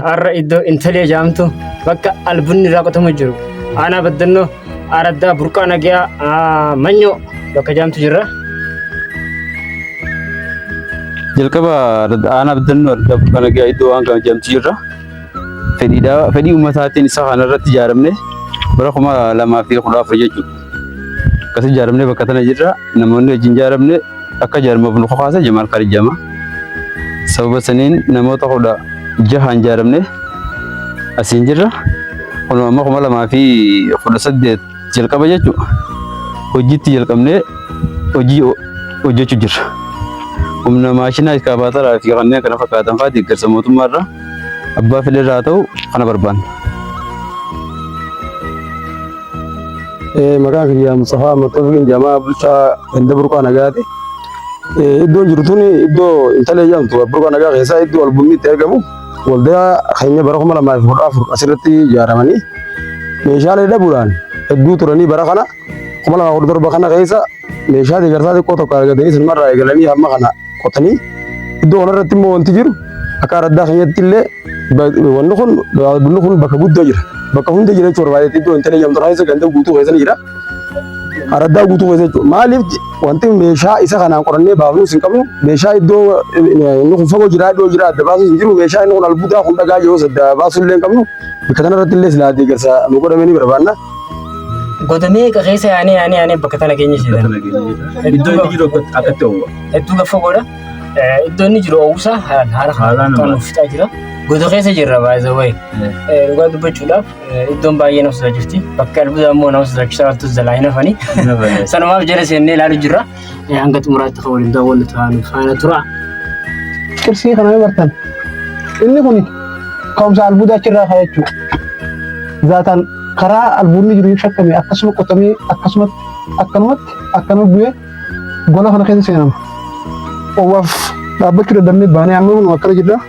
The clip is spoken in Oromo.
Har'a iddoo Intalee jaamtu bakka albunni irraa qotamu jiru. Aanaa baddannoo araddaa burqaa nagaa ah, manyoo bakka jaamtu jirra. Jalqaba aanaa baddannoo araddaa burqaa nagaa iddoo waan kana jaamtu jirra. Fedhiidhaa fedhii uummataatiin isa kana irratti ijaaramne bara kuma lamaa fi kudha afur jechuudha. Akkasii ijaaramnee bakka tana jirra. Namoonni wajjin ijaaramne akka ijaaramuuf nu kakaase Jamaal Khalid jedhama. Sababa saniin namoota kudha jahaan ijaaramne asiin jirra. Kun amma kuma lamaa fi kudha saddeet jalqaba jechuudha. Hojiitti jalqabnee hojii hojjechuu jirra. Humna maashinaa iskaabaataraa fi kanneen kana fakkaatan fa'aa deeggarsa mootummaarraa Abbaa fedhe irraa ta'u kana barbaanna. Maqaan kiyya Mustafaa Mattoofiin jamaa bulchaa ganda burqaa nagaati. Iddoon jiru tun iddoo intala jedhamtu burqaa nagaa keessaa iddoo albumni itti argamu waldaa keenya bara kuma lamaa fi kudha afur asirratti ijaaramanii meeshaalee dhabuudhaan hedduu turanii bara kana kuma lamaa kudha torba kana keessa meeshaa deeggarsaa xiqqoo tokko argatanii sinumarraa eegalanii hamma kana qotanii iddoo kanarratti immoo wanti jiru akka araddaa keenyatti illee ba- wanni kun bunni kun bakka guddaa jira bakka hunda jira jechuudha baay'ee iddoo hin talee jamtu keessa ganda guutuu keessa ni jira araddaa guutuu keessa jechuudha maaliif je- wanti meeshaa isa kanaan qorannee baafnuus hin qabnu meeshaa iddoo eh, inni kun fagoo jira iddoo jira adda baasuus hin jiru meeshaa inni kun albuudaa kun dhagaa jiru adda baasuu illee hin qabnu bakka kanarratti illee silaa deeggarsa nu godhamee ni barbaanna. Goda meeqa keessa yaanee yaanee yaanee bakka tana keenya Bakka seetan. nageenyadha. Iddoo inni jiru akka- akkatti hawwa. Hedduu gaffa godha. Eh, Iddoo inni jiru oowwusaa haalaan haala Haalaan kan nama- nuuf fixaa jira. Goda keessa jirra baay'ee wayi. Dhugaa dubbachuudhaaf eh, iddoon baay'ee nama sodaa jirti. Bakka albuudaa immoo nama sodaachisaa wantoota jalaa hin hafanii. Hin hafanii. Sanumaaf jala seennee ilaaluu jirra. Eh, hanga xumuraatti kan waliin daawwannu ta'an faana tura. Qirsii kana ni bartan. Inni kun ka'umsa albuudaa achirraa ka'a jechuudha. Zaataan karaa albuudni jiru yoo shakkame akkasuma qotamee akkasumatti akkanumatti akkana bu'ee gola kana keessa seenama. Owwaaf dhaabbachuu dadhabnee baanee amma kun akkana jirra.